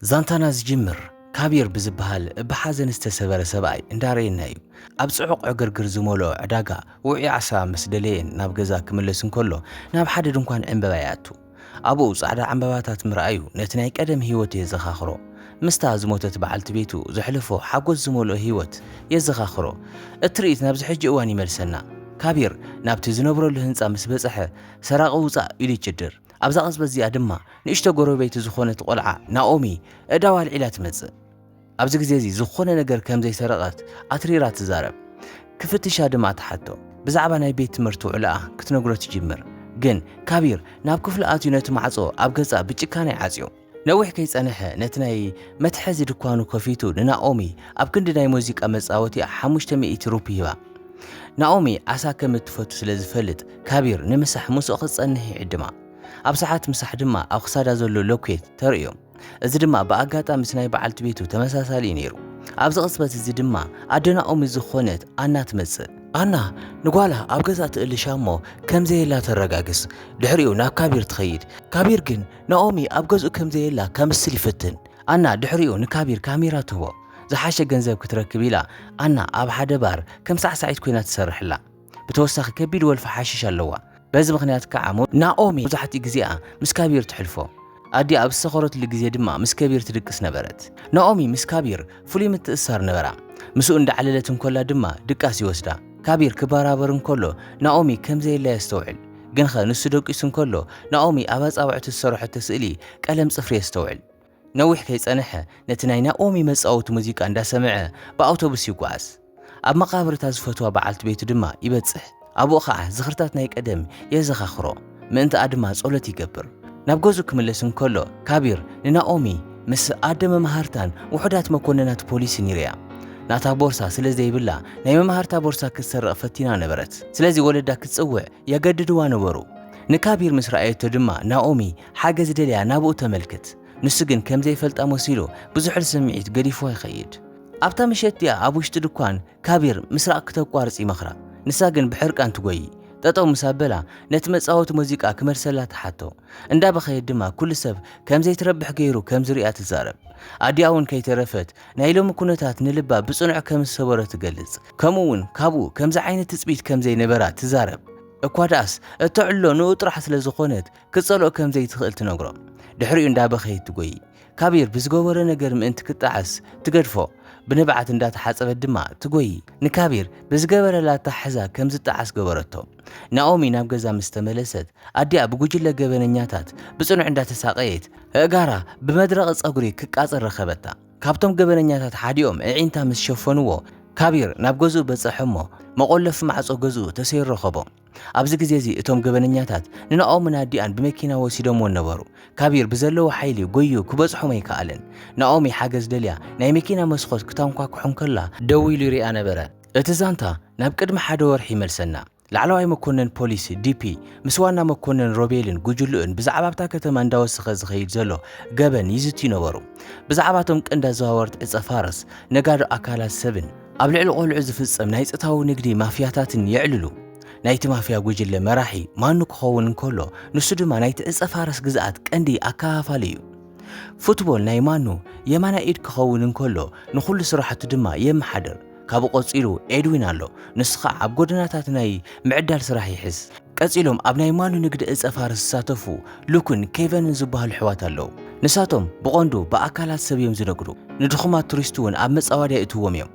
ዛንታና ዝጅምር ካቢር ብዝበሃል ብሓዘን ዝተሰበረ ሰብኣይ እንዳረኤና እዩ። ኣብ ጽዑቕ ዕግርግር ዝመልኦ ዕዳጋ ውዑይ ዓሳ ምስ ደለየን ናብ ገዛ ክምለስ እንከሎ ናብ ሓደ ድንኳን ዕንበባ ይኣቱ። ኣብኡ ጻዕዳ ዕንበባታት ምርኣዩ ነቲ ናይ ቀደም ህይወቱ የዘኻኽሮ። ምስታ ዝሞተት በዓልቲ ቤቱ ዘሕለፎ ሓጎስ ዝመልኦ ህይወት የዘኻኽሮ። እቲ ትርኢት ናብዚ ሕጂ እዋን ይመልሰና። ካቢር ናብቲ ዝነብረሉ ህንጻ ምስ በጽሐ ሰራቒ ውጻእ ኢሉ ይጭድር። ኣብዛ ቅጽበት እዚኣ ድማ ንእሽቶ ጎረቤቲ ዝኾነት ቆልዓ ናኦሚ እዳዋ ኣልዒላ ትመጽእ። ኣብዚ ግዜ እዚ ዝኾነ ነገር ከም ዘይሰረቐት ኣትሪራ ትዛረብ። ክፍትሻ ድማ ትሓቶ። ብዛዕባ ናይ ቤት ትምህርቲ ውዕሎኣ ክትነግሮ ትጅምር። ግን ካቢር ናብ ክፍሉ ኣትዩ ነቲ ማዕጾ ኣብ ገጻ ብጭካነ ይዓጽዮ። ነዊሕ ከይጸንሐ ነቲ ናይ መትሓዚ ድኳኑ ከፊቱ ንናኦሚ ኣብ ክንዲ ናይ ሙዚቃ መጻወቲኣ ሓሙሽተ ሚእቲ ሩፒ ሂባ። ናኦሚ ዓሳ ከም እትፈቱ ስለ ዝፈልጥ ካቢር ንምሳሕ ምስኡ ክትጸንሕ ይዕድማ። ኣብ ሰዓት ምሳሕ ድማ ኣብ ክሳዳ ዘሎ ሎኬት ተርእዮ። እዚ ድማ ብኣጋጣሚ ምስ ናይ በዓልቲ ቤቱ ተመሳሳሊ እዩ ነይሩ። ኣብዚ ቅጽበት እዚ ድማ ኣደ ናኦሚ ዝኾነት ኣና ትመጽእ። ኣና ንጓላ ኣብ ገዛ ትእልሻ እሞ ከም ዘየላ ተረጋግጽ። ድሕሪኡ ናብ ካቢር ትኸይድ። ካቢር ግን ናኦሚ ኣብ ገዝኡ ከም ዘየላ ከምስል ይፍትን። ኣና ድሕሪኡ ንካቢር ካሜራ ትህቦ። ዝሓሸ ገንዘብ ክትረክብ ኢላ ኣና ኣብ ሓደ ባር ከም ሳዕሳዒት ኮይና ትሰርሕ ኣላ። ብተወሳኺ ከቢድ ወልፊ ሓሽሽ ኣለዋ። በዚ ምኽንያት ከኣ ናኦሚ መብዛሕትኡ ግዜኣ ምስ ካቢር ተሕልፎ። ኣዲኣ ኣብ ዝሰኸረትሉ ግዜ ድማ ምስ ከቢር ትድቅስ ነበረት። ናኦሚ ምስ ካቢር ፍሉይ ምትእስሳር ነበራ። ምስኡ እንዳዕለለት እንኮላ ድማ ድቃስ ይወስዳ። ካቢር ክበራበር እንከሎ ናኦሚ ከም ዘየላ የስተውዕል። ግንኸ ንሱ ደቂሱ እንከሎ ናኦሚ ኣብ ኣጻብዕቱ ዝሰርሖቶ ስእሊ ቀለም ጽፍሪ የስተውዕል። ነዊሕ ከይጸንሐ ነቲ ናይ ናኦሚ መጻወቲ ሙዚቃ እንዳሰምዐ ብኣውቶቡስ ይጓዓዝ። ኣብ መቓብር እታ ዝፈትዋ በዓልቲ ቤቱ ድማ ይበጽሕ። ኣብኡ ኸኣ ዝኽርታት ናይ ቀደም የዘኻኽሮ፣ ምእንትኣ ድማ ጸሎት ይገብር። ናብ ገዝኡ ክምለስ እንከሎ፣ ካቢር ንናኦሚ ምስ ኣደ መማህርታን ውሑዳት መኰንናት ፖሊስን ይርእያ። ናታ ቦርሳ ስለ ዘይብላ፣ ናይ መማህርታ ቦርሳ ክትሰርቕ ፈቲና ነበረት። ስለዚ ወለዳ ክትጽውዕ የገድድዋ ነበሩ። ንካቢር ምስ ረኣየቶ ድማ ናኦሚ ሓገዝ ደልያ ናብኡ ተመልክት። ንሱ ግን ከም ዘይፈልጣ መሲሉ ብዝሑል ስምዒት ገዲፍዋ ይኸይድ። ኣብታ ምሸት እቲኣ ኣብ ውሽጢ ድኳን ካቢር ምስራቕ ክተቋርጽ ይመኽራ፣ ንሳ ግን ብሕርቃን ትጎዪ። ጠጠው ምስ ኣበላ ነቲ መጻወቲ ሙዚቃ ክመልሰላ ትሓቶ። እንዳበኸየት ድማ ኩሉ ሰብ ከም ዘይትረብሕ ገይሩ ከም ዝርእያ ትዛረብ። ኣዲኣ እውን ከይተረፈት ናይ ሎሚ ኩነታት ንልባ ብጽኑዕ ከም ዝሰበሮ ትገልጽ፣ ከምኡ እውን ካብኡ ከምዚ ዓይነት ትጽቢት ከም ዘይነበራ ትዛረብ። እኳ ደኣስ እተዕልሎ ንኡ ጥራሕ ስለ ዝኾነት ክትጸልኦ ከም ዘይትኽእል ትነግሮ። ድሕሪኡ እንዳበኸየት ትጎዪ። ካቢር ብዝገበሮ ነገር ምእንቲ ክጣዕስ ትገድፎ፣ ብንብዓት እንዳተሓጸበት ድማ ትጎዪ። ንካቢር ብዝገበረላ ኣተሓሕዛ ከም ዝጣዓስ ገበረቶ። ናኦሚ ናብ ገዛ ምስ ተመለሰት፣ ኣዲኣ ብጉጅለ ገበነኛታት ብጽኑዕ እንዳተሳቐየት፣ ኣእጋራ ብመድረቒ ጸጉሪ ክቃጸል ረኸበታ። ካብቶም ገበነኛታት ሓዲኦም ኣዒንታ ምስ ሸፈኑዎ፣ ካቢር ናብ ገዝኡ በጸሐ'ሞ መቖለፊ ማዕጾ ገዝኡ ተሰይሩ ረኸቦ። ኣብዚ ግዜ እዚ እቶም ገበነኛታት ንናኦምን ኣዲኣን ብመኪና ወሲዶምወን ነበሩ። ካቢር ብዘለዎ ሓይሊ ጎይዩ ክበጽሖም ኣይከኣለን። ናኦሚ ሓገዝ ደልያ ናይ መኪና መስኾት ክታንኳኩሕ እንከላ ደው ኢሉ ይሪኣ ነበረ። እቲ ዛንታ ናብ ቅድሚ ሓደ ወርሒ ይመልሰና። ላዕለዋይ መኮነን ፖሊስ፣ ዲፒ፣ ምስ ዋና መኮነን ሮቤልን ጉጅልኡን ብዛዕባ ኣብታ ከተማ እንዳወሰኸ ዝኸይድ ዘሎ ገበን ይዝትዩ ነበሩ። ብዛዕባ እቶም ቀንዲ ኣዘዋወርቲ ዕጸ ፋርስ፣ ነጋዶ ኣካላት ሰብን፣ ኣብ ልዕሊ ቆልዑ ዝፍጸም ናይ ጽታዊ ንግዲ ማፍያታትን የዕልሉ። ናይቲ ማፍያ ጉጅለ መራሒ ማኑ ክኸውን እንከሎ፣ ንሱ ድማ ናይቲ ዕጸ ፋርስ ግዝኣት ቀንዲ ኣከፋፋሊ እዩ። ፉትቦል ናይ ማኑ የማናይ ኢድ ክኸውን እንከሎ፣ ንኹሉ ስራሕቱ ድማ የመሓድር። ካብኡ ቀጺሉ ኤድዊን ኣሎ፣ ንሱ ኸኣ ኣብ ጎደናታት ናይ ምዕዳል ስራሕ ይሕዝ። ቀጺሎም ኣብ ናይ ማኑ ንግዲ ዕጸ ፋርስ ዝሳተፉ ሉክን ኬቨንን ዝበሃሉ ኣሕዋት ኣለዉ። ንሳቶም ብቐንዱ ብኣካላት ሰብ እዮም ዝነግዱ፣ ንድኹማት ቱሪስት እውን ኣብ መጻወድያ የእትውዎም እዮም።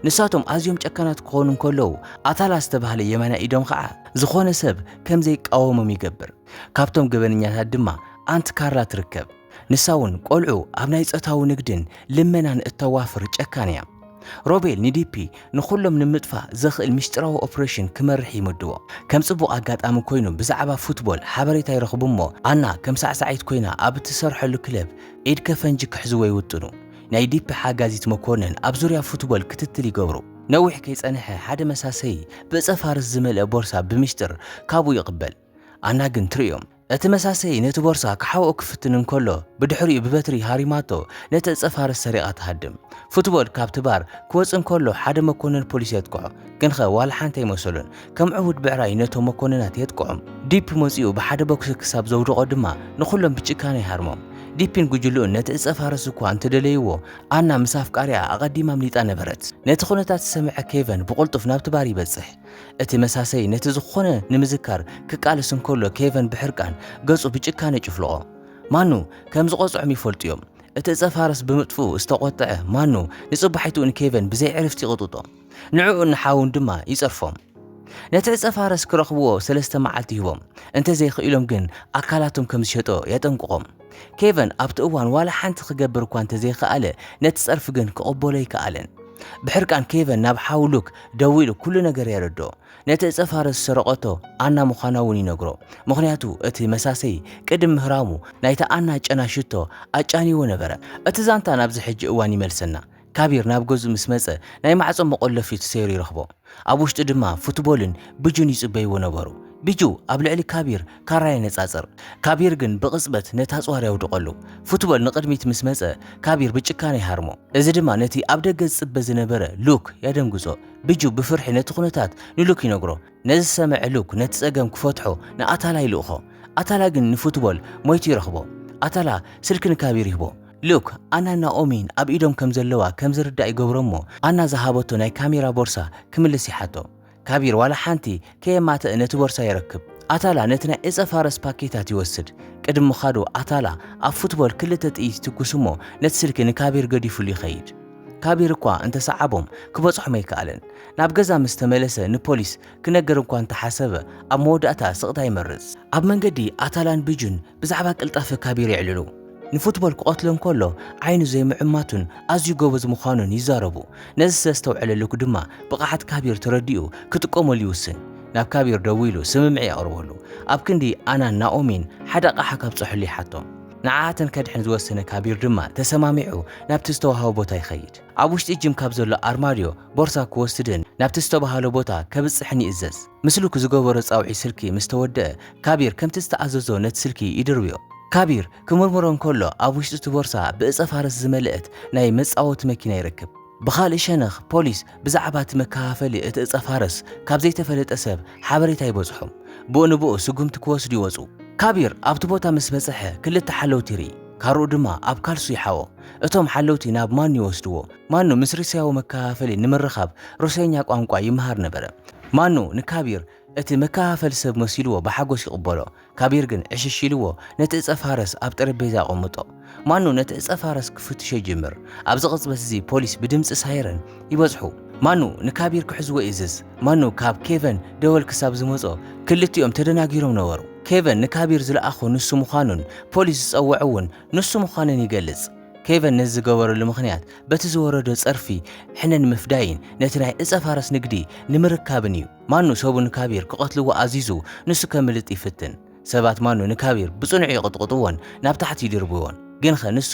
ንሳቶም ኣዝዮም ጨካናት ክኾኑ እንከለዉ፣ ኣታላ ዝተባህለ የማናይ ኢዶም ኸኣ ዝኾነ ሰብ ከም ዘይቃወሞም ይገብር። ካብቶም ገበነኛታት ድማ ኣንት ካርላ ትርከብ፣ ንሳ እውን ቈልዑ ኣብ ናይ ጾታዊ ንግድን ልመናን እተዋፍር ጨካን እያ። ሮቤል ንዲፒ ንኹሎም ንምጥፋእ ዘኽእል ምስጢራዊ ኦፕሬሽን ክመርሕ ይምድቦ። ከም ጽቡቕ ኣጋጣሚ ኰይኑ ብዛዕባ ፉትቦል ሓበሬታ ይረኽቡ እሞ ኣና ከም ሳዕሳዒት ኰይና ኣብ እትሰርሐሉ ክለብ ኢድ ከፈንጂ ክሕዝዎ ይውጥኑ። ናይ ዲፒ ሓጋዚት መኮንን ኣብ ዙርያ ፉትቦል ክትትል ይገብሩ። ነዊሕ ከይጸንሐ ሓደ መሳሰዪ ብእጸ ፋርስ ዝመልአ ቦርሳ ብምስጢር ካብኡ ይቕበል። ኣና ግን ትርእዮም እቲ መሳሰዪ ነቲ ቦርሳ ክሓብኦ ክፍትን እንከሎ ብድሕሪኡ ብበትሪ ሃሪማቶ ነቲ ዕጸ ፋርስ ሰሪቓ ትሃድም። ፉትቦል ካብቲ ባር ክወጽእ እንከሎ ሓደ መኮነን ፖሊስ የጥቅዖ። ግንኸ ዋላ ሓንቲ ኣይመሰሎን። ከም ዕቡድ ብዕራይ ነቶም መኮነናት የጥቅዖም። ዲፕ መጺኡ ብሓደ ቦክሲ ክሳብ ዘውድቖ ድማ ንኹሎም ብጭካነ ይሃርሞም። ዲፕን ጉጅልኡን ነቲ ዕጸ ፋርስ እኳ እንተደለይዎ ኣና ምስ ኣፍቃሪኣ ኣቐዲማ ኣምሊጣ ነበረት። ነቲ ኩነታት ዝሰምዐ ኬቨን ብቕልጡፍ ናብቲ ባር ይበጽሕ። እቲ መሳሰዪ ነቲ ዝኾነ ንምዝካር ክቃለስ እንከሎ ኬቨን ብሕርቃን ገጹ ብጭካነ ይጭፍልቖ። ማኑ ከም ዝቐጽዖም ይፈልጡ እዮም። እቲ እጸ ፋርስ ብምጥፍኡ ዝተቖጥዐ ማኑ ንጽባሒትኡ ንኬቨን ብዘይ ዕርፍቲ ይቕጥጦ። ንዕኡን ንሓዉን ድማ ይጸርፎም። ነቲ እጸ ፋርስ ክረኽብዎ ሰለስተ መዓልቲ ይህቦም። እንተዘይክኢሎም ግን ኣካላቶም ከም ዝሸጦ የጠንቅቖም። ኬቨን ኣብቲ እዋን ዋላ ሓንቲ ክገብር እኳ እንተ ዘይከኣለ፣ ነቲ ጸርፊ ግን ክቕበሎ ኣይከኣለን። ብሕርቃን ኬቨን ናብ ሓው ሉክ ደዊሉ ኵሉ ነገር የረድኦ። ነቲ እጸፋረ ዝሰረቐቶ ኣና ምዃና እውን ይነግሮ፣ ምኽንያቱ እቲ መሳሰዪ ቅድም ምህራሙ ናይታ ኣና ጨና ሽቶ ኣጫንይዎ ነበረ። እቲ ዛንታ ናብዚ ሕጂ እዋን ይመልሰና። ካቢር ናብ ገዝኡ ምስ መጸ ናይ ማዕጾ መቖለፊ ተሰይሩ ይረኽቦ። ኣብ ውሽጢ ድማ ፉትቦልን ቢጁን ይጽበይዎ ነበሩ። ቢጁ ኣብ ልዕሊ ካቢር ካራ የነጻጽር። ካቢር ግን ብቕጽበት ነቲ ኣጽዋር የውድቐሉ። ፉትቦል ንቕድሚት ምስ መጸ ካቢር ብጭካነ ይሃርሞ። እዚ ድማ ነቲ ኣብ ደገ ዝጽበ ዝነበረ ሉክ የደንግጾ። ቢጁ ብፍርሒ ነቲ ኩነታት ንሉክ ይነግሮ። ነዝሰመዐ ሉክ ነቲ ጸገም ክፈትሖ ንኣታላ ይልእኾ ኣታላ ግን ንፉትቦል ሞይቱ ይረኽቦ ኣታላ ስልኪ ንካቢር ይህቦ ሉክ ኣናን ናኦሚን ኣብ ኢዶም ከምዘለዋ ከምዝርዳእ ይገብሮ እሞ ኣና ዝሃበቶ ናይ ካሜራ ቦርሳ ክምልስ ይሓቶ ካቢር ዋላ ሓንቲ ከየማተእ ነቲ ቦርሳ የረክብ ኣታላ ነቲ ናይ እጸ ፋረስ ፓኬታት ይወስድ ቅድም ምኻዱ ኣታላ ኣብ ፉትቦል ክልተ ጥይት ይትኩስ እሞ ነቲ ስልኪ ንካቢር ገዲፉሉ ይኸይድ ካብ ኢርኳ እንተሰዓቦም ክበጽሖም ኣይከኣለን። ናብ ገዛ ምስ ተመለሰ ንፖሊስ ክነግር እኳ እንተሓሰበ ኣብ መወዳእታ ስቕታ ይመርጽ። ኣብ መንገዲ ኣታላን ቢጁን ብዛዕባ ቅልጣፈ ካቢር የዕልሉ። ንፉትቦል ክቐትሎ እንከሎ ዓይኑ ዘይምዕማቱን ኣዝዩ ጎበዝ ምዃኑን ይዛረቡ። ነዚ ስለ ዝተውዕለ ሉክ ድማ ብቕዓት ካቢር ተረዲኡ ክጥቀመሉ ይውስን። ናብ ካቢር ደዊሉ ስምምዕ የቕርበሉ። ኣብ ክንዲ ኣናን ናኦሚን ሓደ ኣቕሓ ካብጽሑሉ ይሓቶም። ንዓኣተን ከድሕን ዝወሰነ ካቢር ድማ ተሰማሚዑ ናብቲ ዝተዋህቦ ቦታ ይኸይድ። ኣብ ውሽጢ ጂም ካብ ዘሎ ኣርማድዮ ቦርሳ ክወስድን ናብቲ ዝተበሃሎ ቦታ ከብጽሕን ይእዘዝ። ምስልኩ ዝገበሮ ጻውዒት ስልኪ ምስ ተወደኣ ካቢር ከምቲ ዝተኣዘዞ ነቲ ስልኪ ይድርብዮ። ካቢር ክምርምሮ እንከሎ ኣብ ውሽጢ'ቲ ቦርሳ ብእጸ ፋርስ ዝመልእት ናይ መጻወቲ መኪና ይረክብ። ብኻልእ ሸነኽ ፖሊስ ብዛዕባ እቲ መከፋፈሊ እቲ እፀ ፋርስ ካብ ዘይተፈለጠ ሰብ ሓበሬታ ይበፅሖም። ብኡ ንብኡ ስጉምቲ ክወስዱ ይወፁ። ካቢር ኣብቲ ቦታ ምስ በፀሐ ክልተ ሓለውቲ ይርኢ። ካርኡ ድማ ኣብ ካልሱ ይሓኦ። እቶም ሓለውቲ ናብ ማኑ ይወስድዎ። ማኑ ምስ ርሲያዊ መከፋፈሊ ንምርኻብ ሩሲየኛ ቋንቋ ይመሃር ነበረ። ማኑ ንካቢር እቲ መከፋፈሊ ሰብ መሲልዎ ብሓጎስ ይቕበሎ፣ ካቢር ግን ዕሽሽ ኢልዎ ነቲ ዕጸ ፋርስ ኣብ ጠረጴዛ ኣቐምጦ። ማኑ ነቲ ዕጸ ፋርስ ክፍትሾ ይጅምር። ኣብዚ ቅጽበት እዚ ፖሊስ ብድምጺ ሳይረን ይበጽሑ። ማኑ ንካቢር ክሕዝዎ ይእዝዝ። ማኑ ካብ ኬቨን ደወል ክሳብ ዝመጾ ክልቲኦም ተደናጊሮም ነበሩ። ኬቨን ንካቢር ዝለኣኾ ንሱ ምዃኑን ፖሊስ ዝጸወዖ እውን ንሱ ምዃኑን ይገልጽ። ኬቨን ነዚ ዝገበረሉ ምኽንያት በቲ ዝወረዶ ጸርፊ ሕነ ንምፍዳይን ነቲ ናይ ዕጸ ፋርስ ንግዲ ንምርካብን እዩ። ማኑ ሰቡ ንካቢር ክቐትልዎ ኣዚዙ ንሱ ከምልጥ ይፍትን። ሰባት ማኑ ንካቢር ብጽኑዕ ይቕጥቕጥዎን ናብ ታሕቲ ይድርብዎን። ግንኸ ንሱ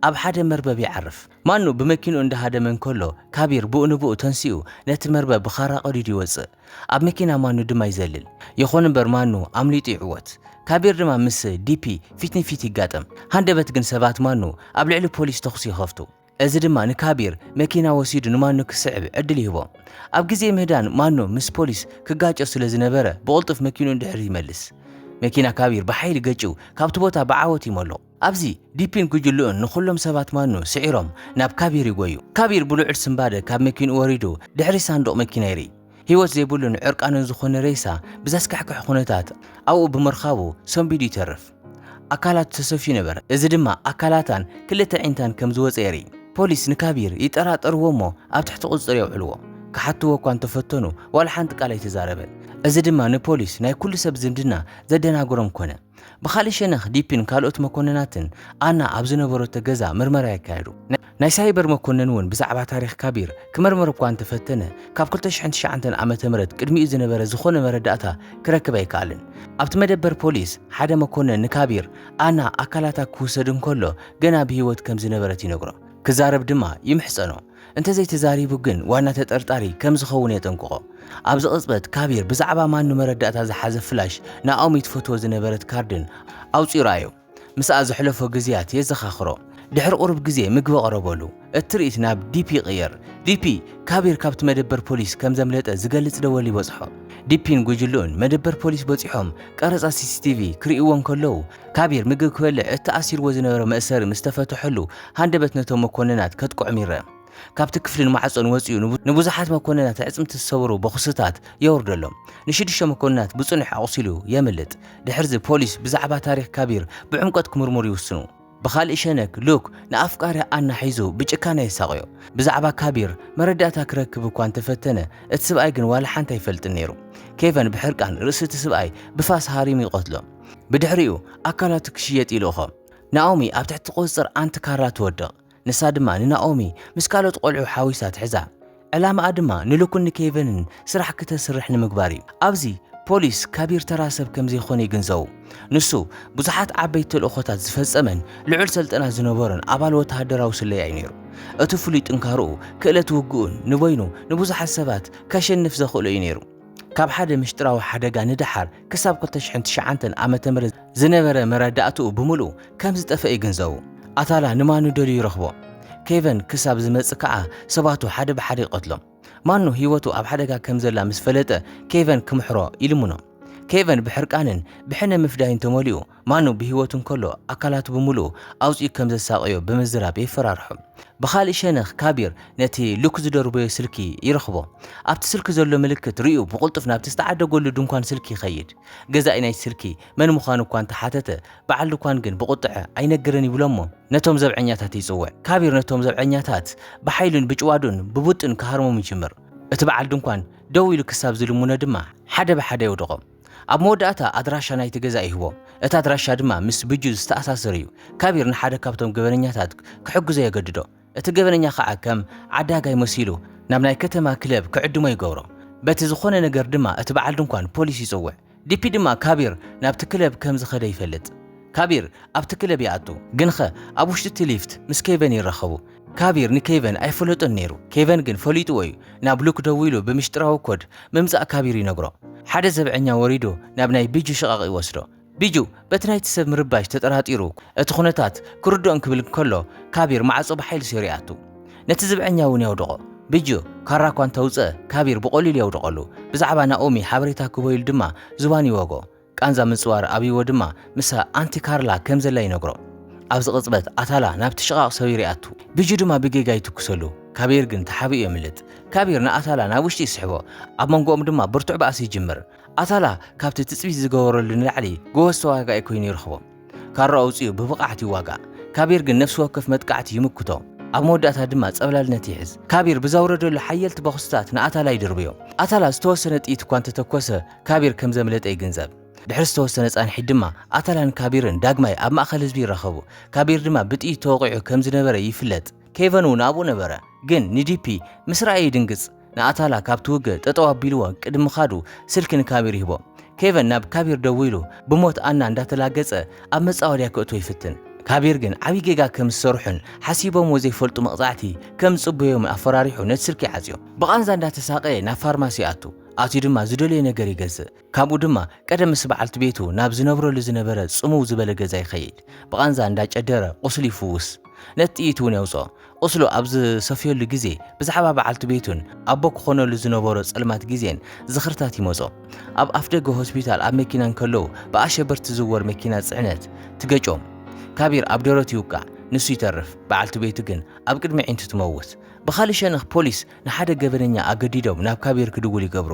ኣብ ሓደ መርበብ ይዓርፍ። ማኑ ብመኪንኡ እንዳሃደመ እንከሎ ካቢር ብኡ ንብኡ ተንሲኡ ነቲ መርበብ ብኻራ ቀዲዱ ይወጽእ። ኣብ መኪና ማኑ ድማ ይዘልል። ይኹን እምበር ማኑ ኣምሊጡ ይዕወት። ካቢር ድማ ምስ ዲፒ ፊት ንፊት ይጋጠም። ሃንደበት ግን ሰባት ማኑ ኣብ ልዕሊ ፖሊስ ተኹሲ ይኸፍቱ። እዚ ድማ ንካቢር መኪና ወሲዱ ንማኖ ክስዕብ ዕድል ይህቦ። ኣብ ግዜ ምህዳን ማኖ ምስ ፖሊስ ክጋጮ ስለ ዝነበረ ብቕልጡፍ መኪንኡ ንድሕሪት ይመልስ። መኪና ካቢር ብሓይሊ ገጭው ካብቲ ቦታ ብዓወት ይመሉቕ። ኣብዚ ዲፒን ጉጅልኡን ንኹሎም ሰባት ማኖ ስዒሮም ናብ ካቢር ይጎዩ። ካቢር ብልዑል ስንባደ ካብ መኪንኡ ወሪዱ ድሕሪ ሳንዱቕ መኪና ይርኢ። ህይወት ዘይብሉን ዕርቃኑን ዝኾነ ሬሳ ብዘስካሕክሕ ኩነታት ኣብኡ ብምርካቡ ሰንቢዱ ይተርፍ። ኣካላቱ ተሰፍዩ ነበረ፣ እዚ ድማ ኣካላታን ክልተ ኣዒንታን ከም ዝወጸ የርኢ። ፖሊስ ንካቢር ይጠራጠርዎ'ሞ ኣብ ትሕቲ ቁጽጽር የውዕልዎ። ክሓትዎ'ኳ እንተፈተኑ ዋላ ሓንቲ ቃል ኣይተዛረበን። እዚ ድማ ንፖሊስ ናይ ኩሉ ሰብ ዝምድና ዘደናግሮም ኮነ። ብኻልእ ሸነኽ ዲፒን ካልኦት መኮንናትን ኣና ኣብ ዝነበረቶ ገዛ ምርመራ የካየዱ። ናይ ሳይበር መኮንን እውን ብዛዕባ ታሪኽ ካቢር ክምርምር እኳ እንተፈተነ ካብ ክልተ ሽሕን ትሽዓንተን ዓመተ ምህረት ቅድሚኡ ዝነበረ ዝኾነ መረዳእታ ክረክብ ኣይከኣለን። ኣብቲ መደበር ፖሊስ ሓደ መኮንን ንካቢር ኣና ኣካላታ ክውሰድ እንከሎ ገና ብህይወት ከም ዝነበረት ይነግሮ። ክዛረብ ድማ ይምሕጸኖ። እንተዘይተዛሪቡ ግን ዋና ተጠርጣሪ ከም ዝኸውን የጠንቅቖ። ኣብዚ ቅጽበት ካቢር ብዛዕባ ማኑ መረዳእታ ዝሓዘ ፍላሽ፣ ናኦሚ ትፈትዎ ዝነበረት ካርድን ኣውጺኡ ረኣዮ። ምስኣ ዘሕለፎ ግዝያት የዘኻኽሮ። ድሕሪ ቁሩብ ግዜ ምግቢ ኣቕረበሉ። እቲ ትርኢት ናብ ዲፒ ይቕየር። ዲፒ፣ ካቢር ካብቲ መደበር ፖሊስ ከም ዘምለጠ ዝገልጽ ደወል ይበጽሖ። ዲፒን ጉጅልኡን መደበር ፖሊስ በጺሖም ቀረጻ ሲሲቲቪ ክርእይዎ እንከለዉ፣ ካቢር ምግብ ክበልዕ እቲ ኣሲርዎ ዝነበረ መእሰሪ ምስ ተፈትሐሉ ሃንደበት ነቶም መኮንናት ከጥቅዖም ይረኣ። ካብቲ ክፍልን ማዕጾን ወጺኡ ንብዙሓት መኮንናት ኣዕጽምቲ ዝሰበሩ ቦኽስታት የውርደሎም። ንሽዱሽተ መኮንናት ብጽኑሕ ኣቑሲሉ የምልጥ። ድሕርዚ ፖሊስ ብዛዕባ ታሪኽ ካቢር ብዕምቆት ክምርምሩ ይውስኑ። ብኻልእ ሸነክ ሉክ ንኣፍቃሪኣ ኣና ሒዙ ብጭካነ የሳቕዮ። ብዛዕባ ካቢር መረዳእታ ክረክብ እኳ እንተፈተነ እቲ ስብኣይ ግን ዋላ ሓንቲ ኣይፈልጥን ነይሩ። ኬቨን ብሕርቃን ርእሲ እቲ ስብኣይ ብፋስ ሃሪሙ ይቐትሎ። ብድሕሪኡ ኣካላቱ ክሽየጥ ይልእኾ። ናኦሚ ኣብ ትሕቲ ቁጽጽር ኣንቲ ካራ ትወድቕ፣ ንሳ ድማ ንናኦሚ ምስ ካልኦት ቆልዑ ሓዊሳ ትሕዛ። ዕላማኣ ድማ ንሉክን ንኬቨንን ስራሕ ክተስርሕ ንምግባር እዩ። ኣብዚ ፖሊስ ካቢር ተራ ሰብ ከም ዘይኮነ ይግንዘቡ። ንሱ ብዙሓት ዓበይቲ ተልእኾታት ዝፈጸመን ልዑል ሰልጠና ዝነበሮን ኣባል ወተሃደራዊ ስለያ እዩ ነይሩ። እቲ ፍሉይ ጥንካረኡ፣ ክእለት ውግኡን ንበይኑ ንብዙሓት ሰባት ከሸንፍ ዘኽእሎ እዩ ነይሩ። ካብ ሓደ ምሽጥራዊ ሓደጋ ንደሓር ክሳብ 2009 ዓመተ ምህረት ዝነበረ መረዳእትኡ ብምልኡ ከም ዝጠፍአ ይግንዘቡ። ኣታላ ንማኑ ደልዩ ይረኽቦ። ኬቨን ክሳብ ዝመጽእ ከኣ ሰባቱ ሓደ ብሓደ ይቐትሎም። ማኑ ህይወቱ ኣብ ሓደጋ ከም ዘላ ምስ ፈለጠ ኬቨን ክምሕሮ ይልምኖ። ኬቨን ብሕርቃንን ብሕነ ምፍዳይን ተመሊኡ ማኑ ብህይወቱ እንከሎ ኣካላቱ ብምሉኡ ኣውጺኡ ከም ዘሳቕዮ ብምዝራብ የፈራርሖ። ብኻልእ ሸነኽ ካቢር ነቲ ሉክ ዝደርበዮ ስልኪ ይረኽቦ። ኣብቲ ስልኪ ዘሎ ምልክት ርእዩ ብቕልጡፍ ናብቲ ዝተዓደገሉ ድንኳን ስልኪ ይኸይድ። ገዛኢ ናይቲ ስልኪ መን ምዃኑ እኳ እንተ ሓተተ፣ በዓል ድኳን ግን ብቑጥዐ ኣይነግርን ይብሎ'ሞ ነቶም ዘብዐኛታት ይጽውዕ። ካቢር ነቶም ዘብዐኛታት ብሓይሉን ብጭዋዶን ብቡጥን ክሃርሞም ይጅምር። እቲ በዓል ድንኳን ደው ኢሉ ክሳብ ዝልምኖ ድማ ሓደ ብሓደ የውድቖም። ኣብ መወዳእታ ኣድራሻ ናይቲ ገዛ ይህቦም፣ እቲ ኣድራሻ ድማ ምስ ብጁ ዝተኣሳሰር እዩ። ካቢር ንሓደ ካብቶም ገበነኛታት ክሕግዞ የገድዶ፣ እቲ ገበነኛ ኸኣ ከም ዓዳጋይ መሲሉ ናብ ናይ ከተማ ክለብ ክዕድሞ ይገብሮ። በቲ ዝዀነ ነገር ድማ እቲ በዓል ድንኳን ፖሊስ ይጽውዕ። ዲፒ ድማ ካቢር ናብቲ ክለብ ከም ዝኸደ ይፈልጥ። ካቢር ኣብቲ ክለብ ይኣቱ። ግንኸ ኣብ ውሽጢ እቲ ሊፍት ምስ ኬቨን ይራኸቡ። ካቢር ንኬቨን ኣይፈለጦን ነይሩ፣ ኬቨን ግን ፈሊጥዎ እዩ። ናብ ሉክ ደዊሉ ብምሽጥራዊ ኮድ ምምጻእ ካቢር ይነግሮ። ሓደ ዘብዐኛ ወሪዱ ናብ ናይ ቢጁ ሽቓቕ ይወስዶ። ቢጁ በቲ ናይቲ ሰብ ምርባሽ ተጠራጢሩ እቲ ኩነታት ክርድኦ እንክብል እንከሎ ካቢር ማዕጾ ብሓይሊ ሰይሩ ይኣቱ። ነቲ ዝብዐኛ እውን የውድቖ። ቢጁ ካራ እኳ እንተውጽኣ ካቢር ብቐሊሉ የውድቐሉ። ብዛዕባ ናኦሚ ሓበሬታ ክህቦ ኢሉ ድማ ዝባኑ ይወግኦ። ቃንዛ ምጽዋር ኣብይዎ ድማ ምሳ ኣንቲ ካርላ ከም ዘላ ይነግሮ። ኣብዚ ቅጽበት ኣታላ ናብቲ ሽቓቕ ሰቢር ይኣቱ። ቢጁ ድማ ብጌጋ ይትኩሰሉ። ካቢር ግን ተሓቢኡ የምልጥ። ካቢር ንኣታላ ናብ ውሽጢ ይስሕቦ። ኣብ መንጎኦም ድማ ብርቱዕ ባእሲ ይጅምር። ኣታላ ካብቲ ትጽቢት ዝገበረሉ ንላዕሊ ጎበዝ ተዋጋኢ ኮይኑ ይረኽቦ። ካራኡ ኣውጺኡ ብብቕዓት ይዋጋእ። ካቢር ግን ነፍሲ ወከፍ መጥቃዕቲ ይምክቶ። ኣብ መወዳእታ ድማ ጸብላልነት ይሕዝ። ካቢር ብዘውረደሉ ሓየልቲ ቦኽስታት ንኣታላ ይድርብዮ። ኣታላ ዝተወሰነ ጥይት እኳ እንተተኮሰ ካቢር ከም ዘምለጠ ይግንዘብ። ድሕሪ ዝተወሰነ ጻንሒት ድማ ኣታላን ካቢርን ዳግማይ ኣብ ማእከል ህዝቢ ይራኸቡ። ካቢር ድማ ብጥይት ተወቒዑ ከም ዝነበረ ይፍለጥ። ኬቨን እውን ኣብኡ ነበረ፣ ግን ንዲፒ ምስ ረኣየ ይድንግጽ። ንኣታላ ካብቲ ውግእ ጠጠው ኣቢልዎ ቅድሚ ምኻዱ ስልኪ ንካቢር ይህቦ። ኬቨን ናብ ካቢር ደዊሉ ብሞት ኣና እንዳተላገጸ ኣብ መጻወድያ ክእትዎ ይፍትን። ካቢር ግን ዓብዪ ጌጋ ከም ዝሰርሑን ሓሲቦምዎ ዘይፈልጡ መቕጻዕቲ ከም ዝጽበዮምን ኣፈራሪሑ ነቲ ስልኪ ይዓጽዮ። ብቓንዛ እንዳተሳቐየ ናብ ፋርማሲ ይኣቱ። ኣትዩ ድማ ዝደልዮ ነገር ይገዝእ። ካብኡ ድማ ቀደም ምስ በዓልቲ ቤቱ ናብ ዝነብረሉ ዝነበረ ጽምው ዝበለ ገዛ ይኸይድ። ብቓንዛ እንዳጨደረ ቁስሉ ይፍውስ። ነቲ ጥይት እውን የውጽኦ። ቁስሉ ኣብ ዝሰፍየሉ ግዜ ብዛዕባ በዓልቲ ቤቱን ኣቦ ክኾነሉ ዝነበሮ ጸልማት ግዜን ዝኽርታት ይመጾ። ኣብ ኣፍደገ ሆስፒታል ኣብ መኪና እንከለዉ ብኣሸበርቲ ዝዝወር መኪና ጽዕነት ትገጮም። ካቢር ኣብ ደረቱ ይውቃዕ። ንሱ ይተርፍ። በዓልቲ ቤቱ ግን ኣብ ቅድሚ ኣዒንቱ ትመውት። ብኻልእ ሸነኽ ፖሊስ ንሓደ ገበነኛ ኣገዲዶም ናብ ካቢር ክድውል ይገብሩ።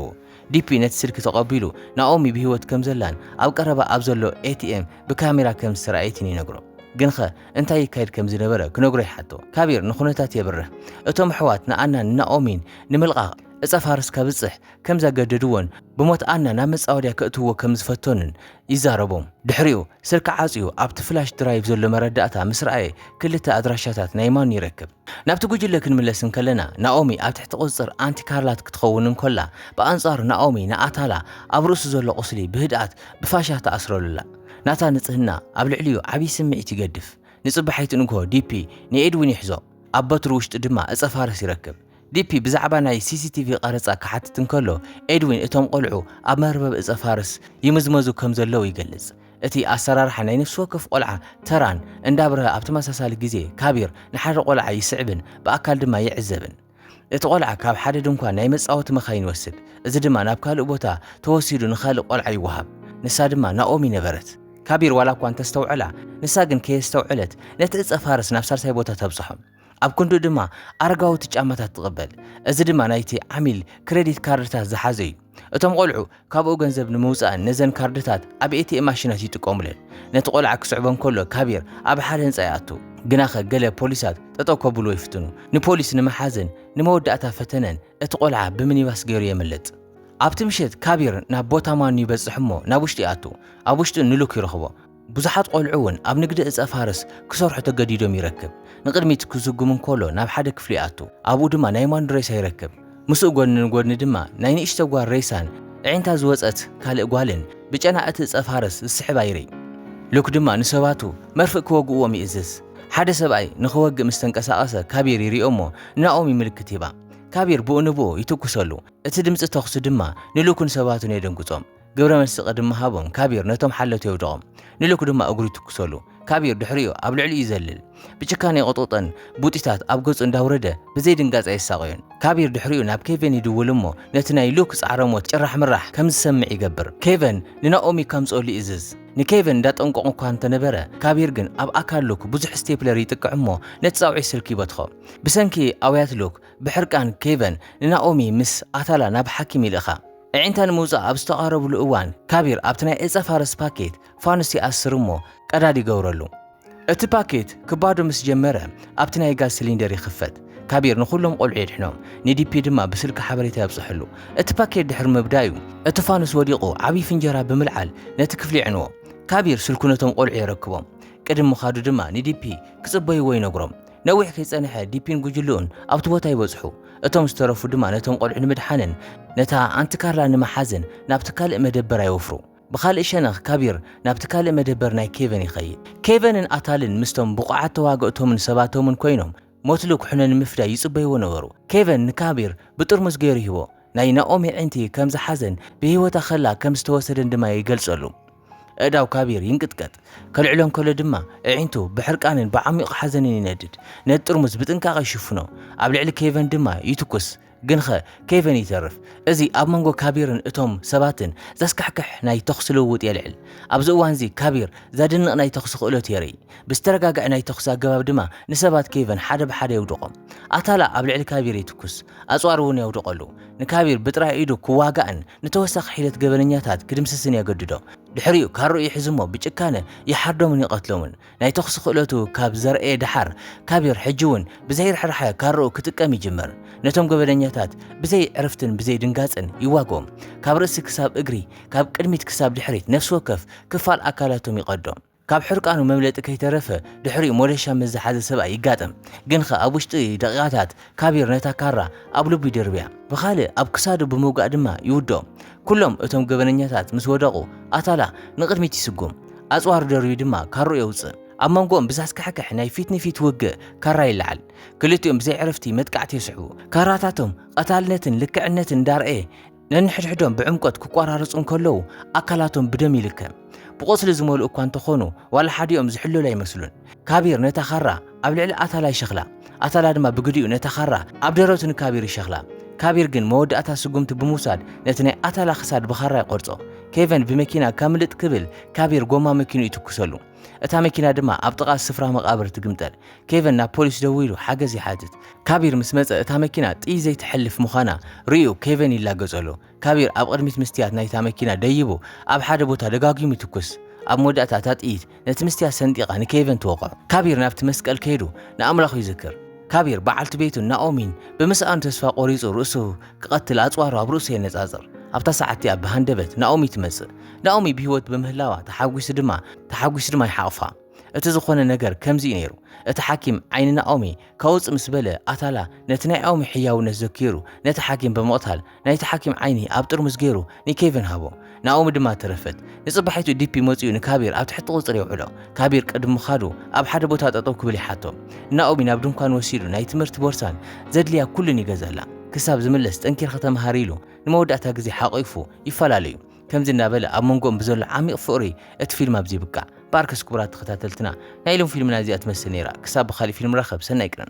ዲፒ ነቲ ስልኪ ተቐቢሉ ናኦሚ ብህይወት ከም ዘላን ኣብ ቀረባ ኣብ ዘሎ ኤቲኤም ብካሜራ ከም ዝተራእየትን ይነግሮ። ግንኸ እንታይ ይካየድ ከም ዝነበረ ክነግሮ ይሓቶ። ካቢር ንኹነታት የብርህ። እቶም ኣሕዋት ንኣናን ንናኦሚን ንምልቓቕ ዕጸ ፋርስ ከብጽሕ ከም ዘገደድዎን ብሞት ኣና ናብ መጻወድያ ከእትውዎ ከም ዝፈተኑን ይዛረቡ። ድሕሪኡ ስልኪ ዓጽዩ ኣብቲ ፍላሽ ድራይቭ ዘሎ መረዳእታ ምስ ረኣየ ክልተ ኣድራሻታት ናይ ማኑ ይረክብ። ናብቲ ጉጅለ ክንምለስ እንከለና ናኦሚ ኣብ ትሕቲ ቁጽጽር ኣንቲ ካርላት ክትኸውን እንኮላ ብኣንጻሩ ናኦሚ ንኣታላ ኣብ ርእሱ ዘሎ ቁስሊ ብህድኣት ብፋሻ ትኣስረሉላ። ናታ ንጽህና ኣብ ልዕሊኡ ዓቢ ስምዒት ይገድፍ። ንጽባሒት ንግሆ ዲፒ ንኤድዊን ይሕዞ ኣብ በትሩ ውሽጢ ድማ እጸ ፋርስ ይረክብ። ዲፒ ብዛዕባ ናይ ሲሲቲቪ ቐረጻ ክሓትት እንከሎ፣ ኤድዊን እቶም ቖልዑ ኣብ መርበብ እጸፋርስ ይምዝመዙ ከም ዘለዉ ይገልጽ። እቲ ኣሰራርሓ ናይ ነፍሲ ወከፍ ቖልዓ ተራን እንዳብርሀ ኣብ ተመሳሳሊ ግዜ ካቢር ንሓደ ቖልዓ ይስዕብን ብኣካል ድማ ይዕዘብን። እቲ ቖልዓ ካብ ሓደ ድንኳን ናይ መጻወቲ መካይን ይወስድ፣ እዚ ድማ ናብ ካልእ ቦታ ተወሲዱ ንካልእ ቖልዓ ይወሃብ፣ ንሳ ድማ ናኦሚ ነበረት። ካቢር ዋላ እኳ እንተስተውዐላ፣ ንሳ ግን ከየስተውዐለት ነቲ እጸፋርስ ናብ ሳልሳይ ቦታ ተብጽሖ። ኣብ ክንድኡ ድማ ኣረጋውቲ ጫማታት ትቕበል፣ እዚ ድማ ናይቲ ዓሚል ክረዲት ካርድታት ዝሓዘ እዩ። እቶም ቈልዑ ካብኡ ገንዘብ ንምውጻእን ነዘን ካርድታት ኣብ ኤቲኤም ማሽናት ይጥቀሙለን። ነቲ ቈልዓ ክስዕቦ እንከሎ ካቢር ኣብ ሓደ ህንጻ ይኣቱ። ግናኸ ገለ ፖሊሳት ጠጠው ከብልዎ ይፍትኑ። ንፖሊስ ንምሓዝን ንመወዳእታ ፈተነን እቲ ቈልዓ ብሚኒባስ ገይሩ የምልጥ። ኣብቲ ምሸት ካቢር ናብ ቦታ ማኑ ይበጽሕ እሞ ናብ ውሽጢ ይኣቱ። ኣብ ውሽጢ ንሉክ ይረኽቦ። ብዙሓት ቆልዑ ውን ኣብ ንግዲ እጸ ፋርስ ክሰርሑ ተገዲዶም ይረክብ ንቅድሚት ክዝጉም እንኮሎ ናብ ሓደ ክፍሊ ይኣቱ ኣብኡ ድማ ናይ ማንዱ ሬሳ ይረክብ ምስኡ ጎድኒ ንጎድኒ ድማ ናይ ንእሽቶ ጓል ሬሳን ኣዒንታ ዝወጸት ካልእ ጓልን ብጨና እቲ እጸ ፋርስ ዝስሕባ ይርኢ ሉክ ድማ ንሰባቱ መርፍእ ክወግእዎም ይእዝዝ ሓደ ሰብኣይ ንክወግእ ምስ ተንቀሳቀሰ ካቢር ይሪኦ እሞ ንኣኦሚ ምልክት ይህባ ካቢር ብኡ ንብኡ ይትኩሰሉ እቲ ድምጺ ተኩሲ ድማ ንሉክን ሰባቱን የደንግጾም ግብረ መልሲ ቅድሚ ሃቦም ካቢር ነቶም ሓለውቲ የውድቖም፣ ንሉክ ድማ እግሩ ይትኩሰሉ። ካቢር ድሕሪኡ ኣብ ልዕሊኡ ይዘልል። ብጭካነ ይቕጥቕጦን ቡጢታት ኣብ ገጹ እንዳውረደ ብዘይድንጋጸ የሳቕዮን። ካቢር ድሕሪኡ ናብ ኬቨን ይድውል እሞ ነቲ ናይ ሉክ ጻዕረ ሞት ጭራሕምራሕ ከም ዝሰምዕ ይገብር። ኬቨን ንናኦሚ ከምጽኦሉ ይእዝዝ። ንኬቨን እንዳጠንቀቖ እኳ እንተነበረ፣ ካቢር ግን ኣብ ኣካል ሉክ ብዙሕ ስቴፕለር ይጥቅዕ እሞ ነቲ ጻውዒት ስልኪ ይበትኾ። ብሰንኪ ኣውያት ሉክ ብሕርቃን ኬቨን ንናኦሚ ምስ ኣታላ ናብ ሓኪም ይልእኻ። ኣዒንታ ንምውጻእ ኣብ ዝተቓረብሉ እዋን፣ ካቢር ኣብቲ ናይ ዕጸ-ፋርስ ፓኬት ፋኑስ ይኣስር እሞ ቀዳድ ይገብረሉ። እቲ ፓኬት ክባዶ ምስ ጀመረ፣ ኣብቲ ናይ ጋዝ ሲሊንደር ይኽፈት። ካቢር ንኹሎም ቆልዑ የድሕኖም፣ ንዲፒ ድማ ብስልኪ ሓበሬታ የብጽሕሉ። እቲ ፓኬት ድሕሪ ምብዳዩ፣ እቲ ፋኑስ ወዲቑ ዓቢ ፍንጀራ ብምልዓል ነቲ ክፍሊ የዕንዎ። ካቢር ስልኩ ነቶም ቆልዑ የረክቦም። ቅድም ምኻዱ ድማ ንዲፒ ክጽበይዎ ይነግሮም። ነዊሕ ከይጸንሐ ዲፒን ጉጅልኡን ኣብቲ ቦታ ይበጽሑ። እቶም ዝተረፉ ድማ ነቶም ቆልዑ ንምድሓንን ነታ ኣንቲ ካርላ ንምሓዝን ናብቲ ካልእ መደበራ ይወፍሩ። ብኻልእ ሸነኽ ካቢር ናብቲ ካልእ መደበር ናይ ኬቨን ይኸይድ። ኬቨንን ኣታልን ምስቶም ብቑዓት ተዋገእቶምን ሰባቶምን ኮይኖም ሞትሊ ኩሕነ ንምፍዳይ ይጽበይዎ ነበሩ። ኬቨን ንካቢር ብጥርሙዝ ገይሩ ይህቦ፣ ናይ ናኦሚ ኣዒንቲ ከም ዝሓዘን ብህይወታ ከላ ከም ዝተወሰደን ድማ ይገልጸሉ። ኣእዳው ካቢር ይንቅጥቀጥ፣ ከልዕሎ እንከሎ ድማ ኣዒንቱ ብሕርቃንን ብዓሚቝ ሓዘንን ይነድድ። ነቲ ጥርሙዝ ብጥንቃቐ ይሽፍኖ፣ ኣብ ልዕሊ ኬቨን ድማ ይትኩስ። ግንኸ ኬቨን ይተርፍ። እዚ ኣብ መንጎ ካቢርን እቶም ሰባትን ዘስካሕክሕ ናይ ተዅሲ ልውውጥ የልዕል። ኣብዚ እዋንዚ ካቢር ዘደንቕ ናይ ተዅሲ ክእለቱ የርኢ፣ ብዝተረጋግዐ ናይ ተዅሲ ኣገባብ ድማ ንሰባት ኬቨን ሓደ ብሓደ የውድቖም። ኣታላ ኣብ ልዕሊ ካቢር ይትኩስ። ኣጽዋር እውን የውድቐሉ። ንካቢር ብጥራይ ኢዱ ክዋጋእን ንተወሳኺ ሒደት ገበነኛታት ክድምስስን የገድዶ። ድሕሪኡ ካርኡ ይሕዝ'ሞ ብጭካነ ይሓርዶምን ይቐትሎምን። ናይ ተኹሲ ክእለቱ ካብ ዘርኣየ ደሓር፣ ካቢር ሕጂ እውን ብዘይ ርሕራሐ ካርኡ ክጥቀም ይጅምር። ነቶም ገበነኛታት ብዘይ ዕርፍትን ብዘይ ድንጋጽን ይዋግኦም። ካብ ርእሲ ክሳብ እግሪ፣ ካብ ቅድሚት ክሳብ ድሕሪት ነፍሲ ወከፍ ክፋል ኣካላቶም ይቐዶም። ካብ ሕርቃኑ መምለጢ ከይተረፈ ድሕሪኡ ሞደሻ ምስ ዝሓዘ ሰብኣይ ይጋጠም። ግንኸ ኣብ ውሽጢ ደቒቓታት ካቢር ነታ ካራ ኣብ ልቡ ይድርብያ። ብኻልእ ኣብ ክሳዱ ብምውጋእ ድማ ይውድኦ። ኩሎም እቶም ገበነኛታት ምስ ወደቑ ኣታላ ንቕድሚት ይስጉም። ኣጽዋሩ ደርብዩ ድማ ካርኡ የውጽእ። ኣብ መንጎኦም ብዘስካሕክሕ ናይ ፊት ንፊት ውግእ ካራ ይለዓል። ክልቲኦም ብዘይዕረፍቲ መጥቃዕቲ የስዕቡ። ካራታቶም ቐታልነትን ልክዕነትን እንዳርኣየ፣ ነንሕድሕዶም ብዕምቆት ክቆራረጹ እንከለዉ ኣካላቶም ብደም ይልከም ብቆስሊ ዝመልኡ እኳ እንተኾኑ ዋላ ሓዲኦም ዝሕለሉ ኣይመስሉን ካቢር ነታ ካራ ኣብ ልዕሊ ኣታላ ይሸኽላ ኣታላ ድማ ብግዲኡ ነታ ካራ ኣብ ደረቱ ንካቢር ይሸኽላ ካቢር ግን መወዳእታ ስጉምቲ ብምውሳድ ነቲ ናይ ኣታላ ክሳድ ብኻራ ይቆርጾ ኬቨን ብመኪና ከምልጥ ክብል ካቢር ጎማ መኪኑ ይትኩሰሉ እታ መኪና ድማ ኣብ ጥቓ ስፍራ መቓብር ትግምጠል ኬቨን ናብ ፖሊስ ደዊሉ ሓገዝ ይሓትት። ካቢር ምስ መጸ እታ መኪና ጥይት ዘይትሐልፍ ምዃና ርእዩ ኬቨን ይላገጸሉ። ካቢር ኣብ ቕድሚት ምስትያት ናይታ መኪና ደይቡ ኣብ ሓደ ቦታ ደጋጊሙ ይትኩስ። ኣብ መወዳእታ እታ ጥይት ነቲ ምስትያት ሰንጢቓ ንኬቨን ትወቕዖ። ካቢር ናብቲ መስቀል ከይዱ ንኣምላኹ ይዝክር። ካቢር በዓልቲ ቤቱን ናኦሚን ብምስኣኑ ተስፋ ቆሪጹ ርእሱ ክቐትል ኣጽዋሩ ኣብ ርእሱ የነጻጽር። ኣብታ ሰዓት እቲኣ ብሃንደበት ናኦሚ ትመጽእ። ናኦሚ ብህይወት ብምህላዋ ተሓጒሱ ድማ ተሓጒሱ ድማ ይሓቕፋ። እቲ ዝኾነ ነገር ከምዚ'ዩ ነይሩ። እቲ ሓኪም ዓይኒ ናኦሚ ካውጽእ ምስ በለ፣ ኣታላ ነቲ ናይ ኣኦሚ ሕያውነት ዘኪሩ ነቲ ሓኪም ብምቕታል ናይቲ ሓኪም ዓይኒ ኣብ ጥርሙዝ ገይሩ ንኬቪን ሃቦ። ናኦሚ ድማ ተረፈት። ንጽባሒቱ ዲፒ መጺኡ ንካቢር ኣብ ትሕቲ ቁጽሪ የውዕሎ። ካቢር ቅድሚ ምኻዱ ኣብ ሓደ ቦታ ጠጠው ክብል ይሓቶ። ንናኦሚ ናብ ድንኳን ወሲዱ ናይ ትምህርቲ ቦርሳን ዘድልያ ኩሉን ይገዘላ። ክሳብ ዝምለስ ጠንኪርኺ ተመሃሪ ኢሉ ንመወዳእታ ግዜ ሓቒፉ ይፈላለዩ። ከምዚ እናበለ ኣብ መንጎኦም ብዘሎ ዓሚቕ ፍቕሪ እቲ ፊልም ኣብዚ ይብቃዕ። ባርከስ ክቡራት ተኸታተልትና ናይ ሎም ፊልምና እዚኣ ትመስል ነይራ ክሳብ ብኻሊእ ፊልም ንራኸብ ሰናይ ቅነ።